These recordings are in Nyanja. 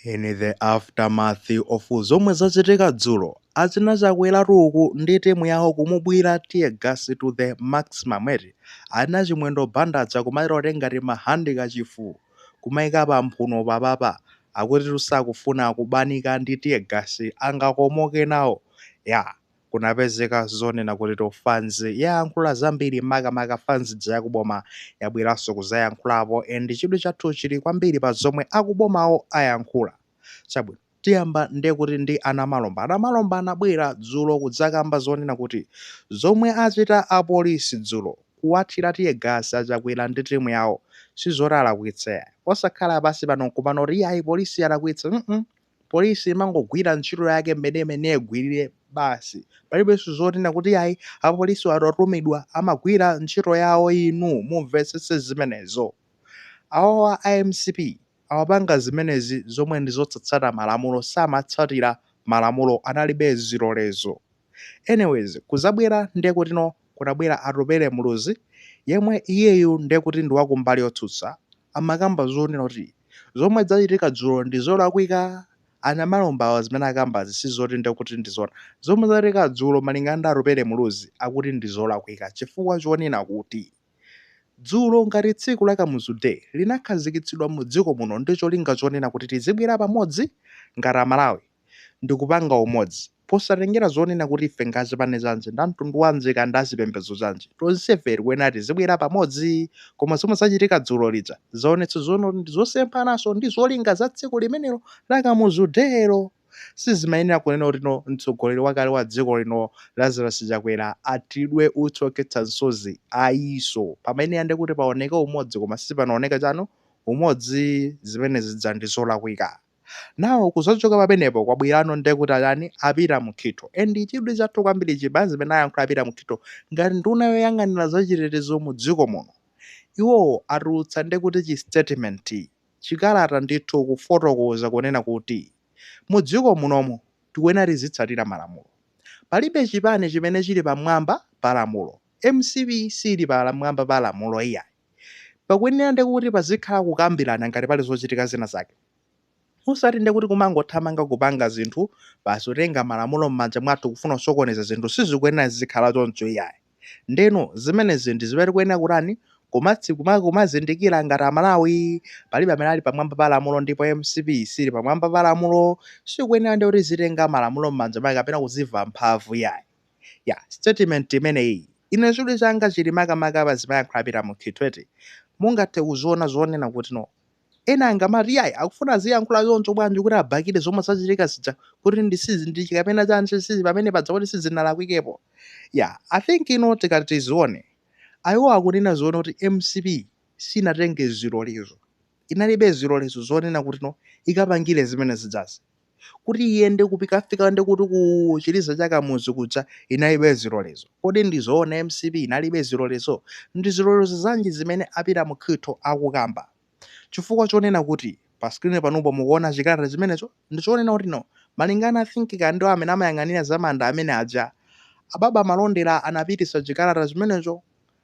In the aftermath of zomwe zachitika dzulo, achina Chakweratu uku ndi team yawo kumubwira tear gas to the maximum eti, achina Chimwendo Banda aja kumachita kutenga timahandi kachifu kumaika pa mphuno papapa, akutitu sakufuna kubanika ndi tear gas angakomoke nawo, yeah. kunapezeka zonena kuti no fans yayankhula zambiri makamaka fans ija yakuboma yabweranso kuzayankhulapo and chidwi chathu chili kwambiri pa zomwe akubomawo ayankhula chabwino tiyamba ndekuti ndi anamalomba anamalomba anabwera dzulo kudzakamba zonena kuti zomwe achita apolisi dzulo kuwathira tear gas achakwera ndi timu yawo sizoti alakwitsa ayi osakhala pansi pano nkumati kuti iyayi polisi yalakwitsa mm -mm. Police imangogwira ntchito yake mmene imayenera igwirire basi palibenso zonena kuti ayi apolisiwo atatumidwa amagwira ntchito yawo inu mumvetsetse zimenezo. Awawa a mcp amapanga zimenezi zomwe ndi zosatsata malamulo samatsatira malamulo analibe zilolezo. Anyways kuzabwera nde kuti no kunabwera Atupele Muluzi yemwe iyeyu nde kuti ndi wakumbali yotsutsa amakamba zonena kuti zomwe zachitika dzulo ndi zolakwika a Namalombawa zimene akambazi sizoti nde kuti ndi zoona. Zomwe zachitika dzulo malingana ndi Atupele Muluzi akuti ndi zolakwika chifukwa chonena kuti dzulo ngati tsiku la Kamuzu Day linakhazikitsidwa mu dziko muno ndi cholinga chonena kuti tizibwera pamodzi ngati a Malawi. ndi kupanga umodzi. Posatengera zonena kuti ife ngazipani zanji, ndamtundu wanji kaya ndi azipembedzo zanji, tonsefe tikuyenera tizibwera pamodzi. Koma zomwe zachitika dzulo zija zaonetsa zonena kuti ndizosemphananso ndi zolinga za tsiku limenelo la Kamuzu Day lo. Sizimayenera kunena kuti no mtsogoleri wakale wa dziko lino Lazarus Chakwera athiridwe utsi okhetsa msozi ayiso. Pamayenera ndi kuti paoneke umodzi koma sipanaoneke chaumodzi zimene zija ndizolakwika. now kuzachoka pamenepo kwabwerano nde kuti atani a Peter Mukhito and chidwi chathu kwambiri chili pa zimene ayankhula a Peter Mukhito ngati nduna yoyang'anira za chitetezo mu dziko muno iwowo atulutsa nde kuti chi statement chikalata ndithu kufotokoza kunena kuti mu dziko munomu tikuyenera tizitsatira malamulo palibe chipani chimene chili pamwamba pa lamulo mcp siili pa mwamba pa lamulo iyayi. Pakuyenera ndi kuti pazikhala kukambirana ngati pali zochitika zina zake. Osati ndi kuti kumangothamanga kupanga zinthu basi kutenga malamulo m'manja mwathu kufuna kusokoneza zinthu sizikuyenera zizikhala choncho iyayi. Ndeno zimenezi ndi zimene tikuyenera kutani kumatsi kuma kumazindikira ngati Amalawi. Palibe amene ali pamwamba pa lamulo ndipo mcp sili pamwamba pa lamulo. Sikuyenera ndi kuti izitenga malamulo m'manja mwake kapena kuziva mphamvu iyayi. Yeah, statement imeneyi ine chidwi changa chili makamaka pa zimene ayankhula a Peter Mukhito eti mungathe kuziona zonena kuti no ena angamati yayi akufuna aziyankhula choncho bwanji? Kuti abakire zomwe zachitika zija kuti ndi sizi ndi kapena chani sizi pamene padza kuti sizinalakwikepo yeah i think ino tikati tizione ayiwo akunena zoona kuti mcp sinatenge zilolezo inalibe zilolezo zonena kuti no ikapangire zimene zijazi kuti iyende kupikafika ndi kuti ku chiliza cha kamuzu kuja inalibe zilolezo kodi ndi zoona mcp inalibe zilolezo ndi zilolezo zanji zimene a Peter Mukhito akukamba chifukwa chonena kuti pa screen panupo mukuona chikalata chimenecho ndi chonena kuti no malingana I think ka ndi amene amayang'anira za manda amene aja a Baba Malondera anapititsa chikalata chimenecho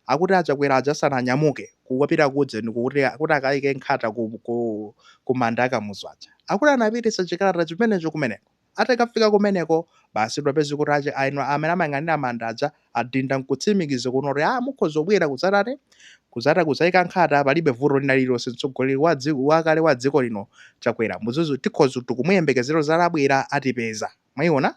Akuti a Chakwera aja asananyamuke kupita ku ujeni ku kuti, kuti akaike nkhata ku, ku, ku manda a Kamuzu aja, akuti anapititsa chikalata chimenecho kumeneko. Atakafika kumeneko, basi tapeza kuti ache, a ino amene amayang'anira manda aja adinda nkutsimikiza kunena kuti, ah, mukhoza kubwera kudzatani, kudzata kudzaika nkhata, palibe vuto lina lililonse. Mtsogoleri wa dziko, wakale wa dziko lino Chakwera, muzizi, tikhoza, tikumuyembekezera adzabwera, atipeza. Mwaiona?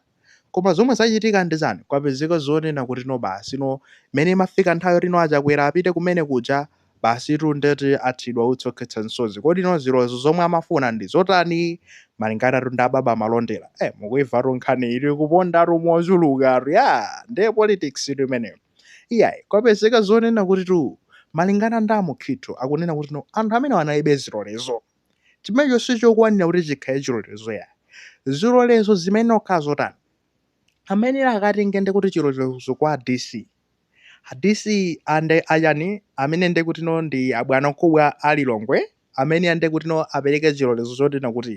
Koma zomwe zachitika ndi chani? Kwapezeka zonena kuti no basi no, mmene imafika nthawi yoti no a Chakwera apite kumene kuja, basitu ndeti athidwa utsi okhetsa msozi. Kodi no zilolezo zomwe amafuna ndi zotani? Malinganatu ndi a Baba Malondera. Eh, mukuimvatu nkhaniyi tu ikupondatu mochulukatu, yaa! Ndiye politics tu imeneyo. Iyayi, kwapezeka zonena kuti tu, malingana ndi a Mukhito akunena kuti no, anthu amenewa analibe zilolezo. Chimenecho sichokwanira kuti chikhale chilolezo ya. Zilolezo zimenezo zikhala zotani? Amene akatenge ndi kuti chilolezo kwa DC. A DC nde achani amene ndi kuti no ndi abwanamkubwa a Lilongwe amene ndi kuti no apereke chilolezo choti no kuti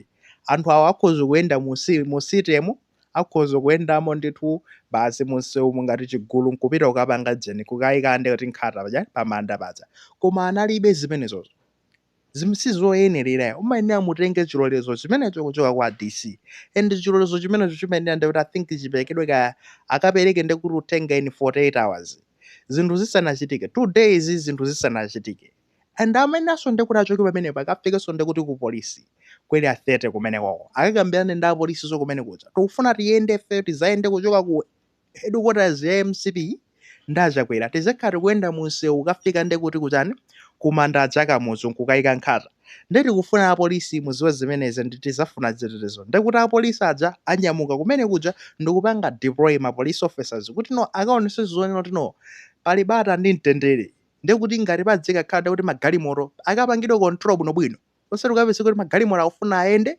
anthu awa akhoza kuyenda mu mu citymu akhoza kuyendamo ndithu basi munsewumu ngati chigulu nkupita kukapanga ujeni kukayika ndi kuti nkhata paja pamanda paja koma analibe zimenezozo zimene sizoyenerera umayenera mutenge chilolezo chimenecho kuchoka kwa DC and chilolezo chimenecho chimayenera ndikuti I think chiperekedwe kaya akapereke ndikuti utenge in 48 hours zinthu zisanachitike two days zinthu zisanachitike and amayeneranso ndikuti achoke pamenepo akafikenso ndikuti ku polisi ku Area 30 kumenekoko akakambirane ndi apolisiso kumene kuja tikufuna tiyende ife tidzayende kuchoka ku headquarters ya mcp ndi a Chakwera tizikhala tikuyenda mu msewu kukafika nde kuti kuchani ku manda aja a Kamuzu nkukayika nkhata nde tikufuna a police mudziwe zimenezi and tidzafuna chitetezo nde kuti a police aja anyamuka kumene kuja ndikupanga deploy ma police officers kuti no akaonetse zoonena kuti no pali bata ndi mtendere nde kuti ngati padzikakhala nde kuti magalimoto akapangidwe control bwinobwino osati ukapeze kuti magalimoto akufuna ayende,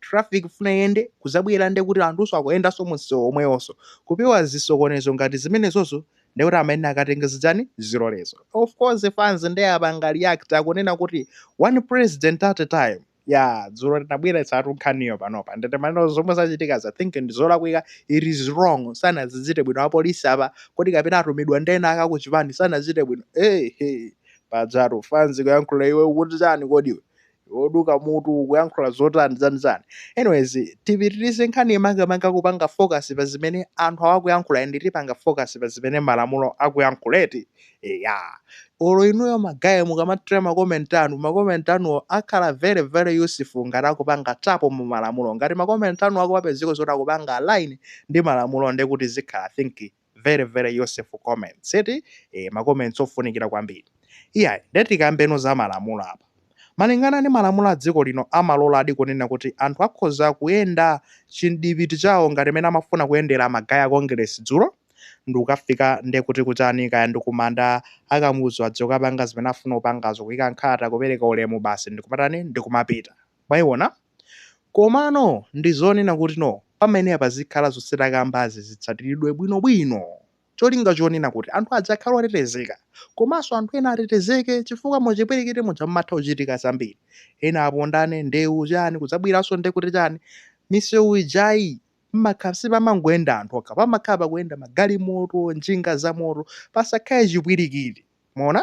traffic ikufuna iyende, kuzabwera nde kuti anthuso akuyendanso munsewu omwewonso, kupewa zisokonezo ngati zimenezozo nde kuti amene akatenge zichani, zilolezo. Of course fans nde apanga react, akunena kuti one president at a time, yaa dzulo tinabweretsatu nkhaniyo panopa nde timanena kuti zomwe zachitikazi I think ndi zolakwika, it is wrong, sanazichite bwino apolisi apa, kodi kapena atumidwa ndi ena ake akuchipani, sanazichite bwino, eehee Pajatu fans ikuyankhula iwe ukuti chani kodi iwe? Iwe oduka mutu ukuyankhula zotani zani zani. Anyways tipitirize nkhaniyi makamaka kupanga focus pa zimene anthu awa akuyankhula and tipanga focus pa zimene malamulo akuyankhula eti. Eya. Olo inuyo ma guys mukamachita ma comment anu, ma comment anuwo akhale very very useful ngati akupanga tap mu malamulo. Ngati ma comment anuwo akumapezeka zoti akupanga align ndi malamulo ndekuti zikhala I think very very useful comments eti eh, ma comments ofunikira kwambiri iyayi nde tikambeno za malamulo apa malingana ndi malamulo a dziko lino amaloladi kunena kuti anthu akhoza kuyenda chimdipiti chawo ngati mene amafuna kuyendera ma guy a Congress dzulo ndikukafika nde kuti kuchani, kaya ndikumanda a Kamuzu azikapanga zimene afuna kupangazo kuyika nkhata kupereka ulemu basi ndikumatani ndikumapita mwayiona Komano ndi zonena kuti no pamayenera pazikhala zonse takambazi zitsatiridwe bwino bwino cholinga chonena kuti anthu aja akhale otetezeka komanso anthu ena atetezeke chifukwa muchipwirikiti muja mmatha kuchitika zambiri ena apondane ndewu chani kudzabweranso nde kuti chani misewu ijayi mmakhala sipamangoyenda anthu okha pamakhala pakuyenda magalimoto njinga zamoto pasakhale chipwirikiti mwaona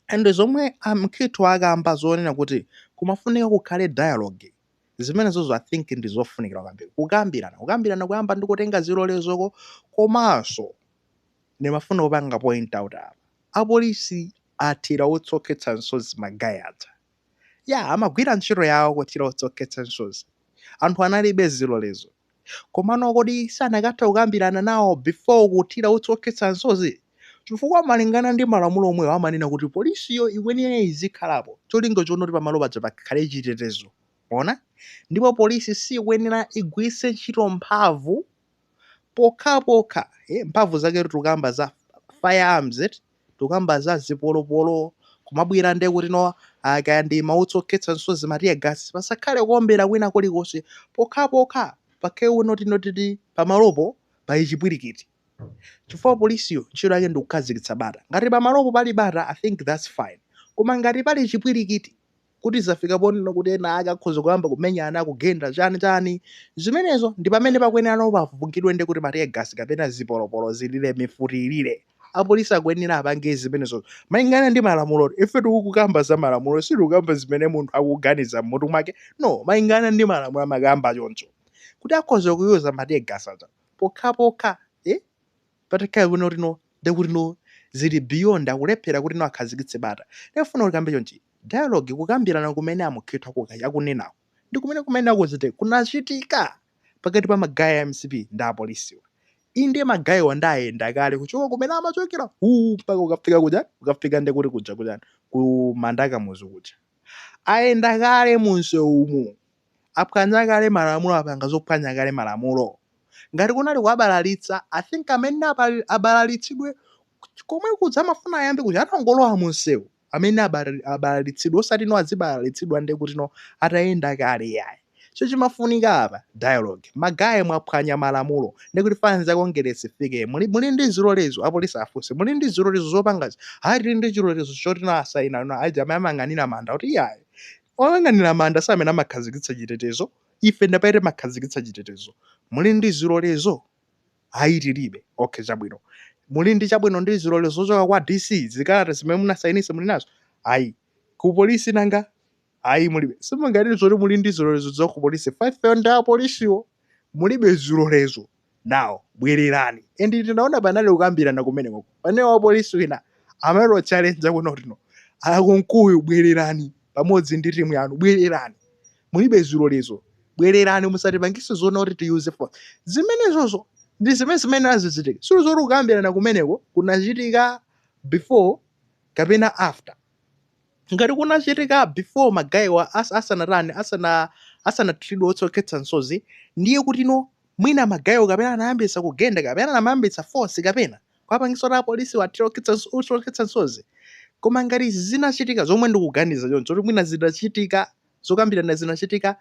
And zomwe a Mkhitho akamba zonena kuti kumafunika kukhale dialogue, zimenezozo I think ndi zofunikira kwambiri, kukambirana, kukambirana kuyamba ndi kutenga zilolezoko komanso ndimafuna kupanga point out apa, apolisi athira utsi okhetsa msozi ma guy aja. ya amagwira ntchito yawo kuthira utsi okhetsa msozi anthu analibe zilolezo komano kodi sanakatha kukambirana nawo before kuthira utsi okhetsa msozi chifukwa malingana ndi malamulo omwewo amanena kuti polisiyo ikuyenera izikhalapo cholinga choona kuti pamalo paja pakhale chitetezo mwaona ndipo polisi sikuyenera igwiritse ntchito mphamvu pokhapokha eh, mphamvu zake tukamba za firearms eti Tukamba za zipolopolo, kumabwera ndiye kuti no ah, kaya ndi mautsi okhetsa msozi ma tear gas pasakhale kuombera kwina kulikonse pokhapokha pakhale kunoti pamalopo pali chipwirikiti chifukwa polisiyo ntchito yake ndi kukhazikitsa bata ngati pamalopo pali bata I think that's fine koma ngati pali chipwirikiti kuti zafika ponena kuti ena ake akhoza kuyamba kumenyana, kugenda, chani, chani, zimenezo ndi pamene pakuyenera no pavungidwe nde kuti ma tear gas kapena zipolopolo zilire, mifuti ilire. Apolisi akuyenera apange zimenezo malingana ndi malamulo. Ife tikukamba za malamulo, sitikukamba zimene munthu akuganiza m'mutu mwake, no, malingana ndi malamulo amakamba choncho kuti akhoza kuyuza ma tear gas aja pokhapokha, eh, Patakhala kuno ti no nde kuti no zili beyond akulephera kuti no akhazikitse bata. Ndifuna kuti tikambe chonchi dialogue kukambirana kumene a Mukhitho akunenaku ndi kumene akuzite kunachitika pakati pa ma guy a mcp ndi apolisiwa. Inde ma guy wa nde ayenda kale kuchoka kumene amachokera uu mpaka kukafika kujani kukafika ndiye kuti kuja kujani ku manda a Kamuzu kuja. Ayenda kale mu msewumu. Aphwanya kale malamulo apanga zophwanya kale malamulo. Ngati kunali kuwabalalitsa I think amene abalalitsidwe komwe kuja mafuna ayambe kuja atangolowa munsewu amene abalalitsidwe osati no azibalalitsidwa nde kuti no atayenda kale yayi. So chimafunika apa dialogue. Ma guy mwaphwanya malamulo nde kuti fans a Kongeresi ifike muli ndi zilolezo apolisi afunse muli ndi zilolezo zopangazi ayi tili ndi chilolezo choti no asayina no aja amene amayang'anira manda kuti iyayi Oyang'anira manda si amene amakhazikitsa chitetezo, ife ndi amene timakhazikitsa chitetezo. Muli ndi zilolezo? Ayi tilibe. Okay, chabwino. Muli ndi chabwino ndi zilolezo zochoka kwa DC, zikalata zimene munasayinitsa muli nazo? Ayi. Ku polisi nanga? Ayi mulibe. Simunganene zoti muli ndi zilolezo za ku polisi, ifeyo ndi apolisiwo mulibe zilolezo. nawo. Bwererani. And ndinaona panali kukambirana kumeneko. Pamene wapolisi wina amawatchalenja kunena kuti no. A Kunkuyu bwererani pamodzi ndi timu yanu. Bwererani. Mulibe zilolezo. Bwererani musatipangise zonena kuti tiyuze force. Zimenezozo ndi zimene zimene zachitika. Siyo zoti kukambirana kumeneko kunachitika before kapena after. Ngati kunachitika before ma guy wa as asanatani asana asanathiridwe utsi okhetsa msozi ndiye kuti no mwina ma guy wo kapena anayambitsa kugenda kapena anamayambitsa force kapena kuwapangisa kuti apolisi wo athire okhetsa utsi okhetsa msozi koma ngati zinachitika zomwe ndikuganiza choncho kuti mwina zinachitika zokambirana zinachitika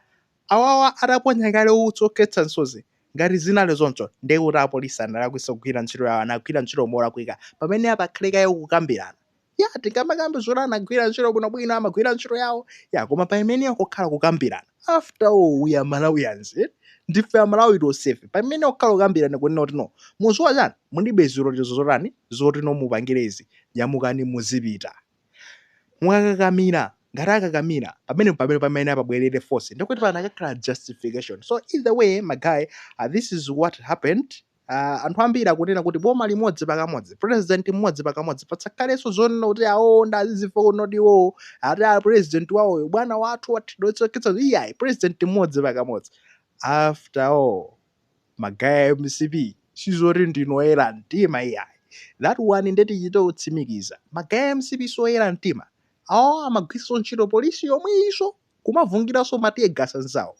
awawa ataponya kale utsi okhetsa msozi ngati zinali zoncho ndiye kuti apolisi analakwitsa kugwira ntchito yawo anagwira ntchito molakwika pamene apakhale kaye kukambirana ya tingamakambe zoti anagwira ntchito bwinobwino amagwira ntchito yawo ya koma paimenera kukhala kukambirana after all we are malawians eh? ndife amalawi tonsefe paimenera kukhala kukambirana kunena kuti no mudziwa chani mulibe zilolezo zotani zoti no mupangire izi nyamukani muzipita mwakakamira ngati akakamira pamene pamene pamene apabwerere force ndikuti panakakhala justification so either way ma guy uh, this is what happened Uh, anthu ambiri akunena kuti boma limodzi pakamodzi president mmodzi pakamodzi patsakhalenso zonena kuti awo ndi a DPP kuno kuti iwowo ati a president wawoyo bwana wathu watidosa iyayi president mmodzi pakamodzi after all magaye a mcp sizoti ndinoyera mtima iyayi that one nde tichite kutsimikiza magaye a mcp sioyera mtima awo amagwiritsa ntchito polisi yomweyinso kumavungiranso ma tear gas anzawo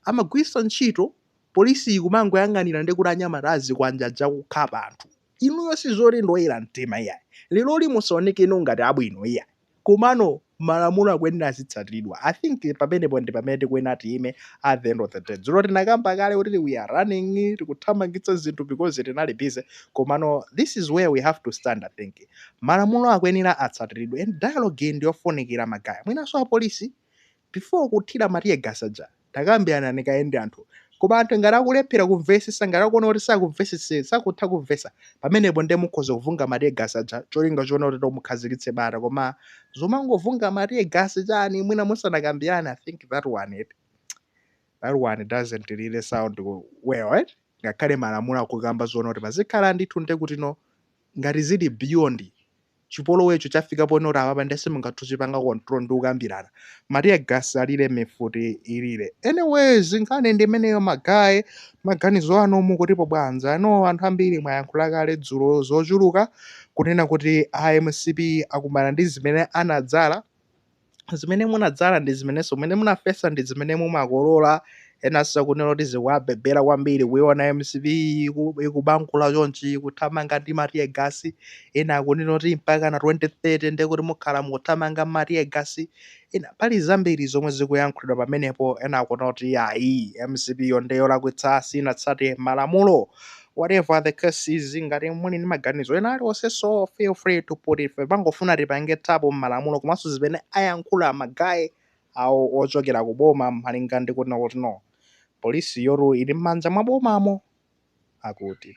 amagwiritsa ntchito polisiyi kumangoyang'anira ndi kuti anyamata azikwanje aja akukhapa anthu inuyo sizoti ndi oyera mtima iyayi lero lino musaoneke ngati abwino iyayi komano malamulo akuyenera azitsatidwa i think pamenepo ndi pamene tikuyenera tiime at the end of the day dzulo tinakamba kale kuti we are running tikuthamangitsa zinthu because tinali busy komano this is where we have to stand i think malamulo akuyenera atsatiridwe and dialogue ndiyofunikira magaye mwinanso apolisi before kuthira ma tear gas aja takambiranani kaye ndi anthu koma anthu ngati akulephera kumvesesa ngati akuona kuti sakutha kumvesa pamenepo ndiye mukhoza kuvunga ma tear gas aja cholinga choona kuti mukhazikitse bata koma zomangovunga ma tear gas chani mwina musanakambirane i think that one doesn't really sound well right? ngakhale malamulo akukamba zoona kuti pazikhala ndithu nde kuti no ngati zili beyond chipolowecho chafika ponena kuti apapa nde simungathe kuchipanga control ndi kukambirana ma tear gas alire mifuti ilire anyways nkhani ndi imeneyo magaye maganizo anu mukutipo bwanji pano anthu ambiri mwayankhula kale dzulo zochuluka kunena kuti a mcp akumana ndi zimene anadzala zimene munadzala ndi zimenenso zimene munafesa ndi zimene mumakolola enanso akunena kuti zikuwabebera kwambiri kuiona mcp iku- ikubankula chonchi ikuthamanga ndi ma tear gas ena akunena kuti mpaka na 2030 ndiye kuti mukhala mukuthamanga ma tear gas ena pali zambiri zomwe zikuyankhulidwa pamenepo ena akunena kuti ayi mcp yo ndeyolakwitsa sinatsate malamulo whatever the case is ngati muli ndi maganizo ena aliwonse so feel free to put it ife timangofuna tipange tap mmalamulo komanso zimene ayankhula magaye awo ochokera ku boma malinga ndi kunena kuti no polisi yoti ili mmanja mwa bomamo akuti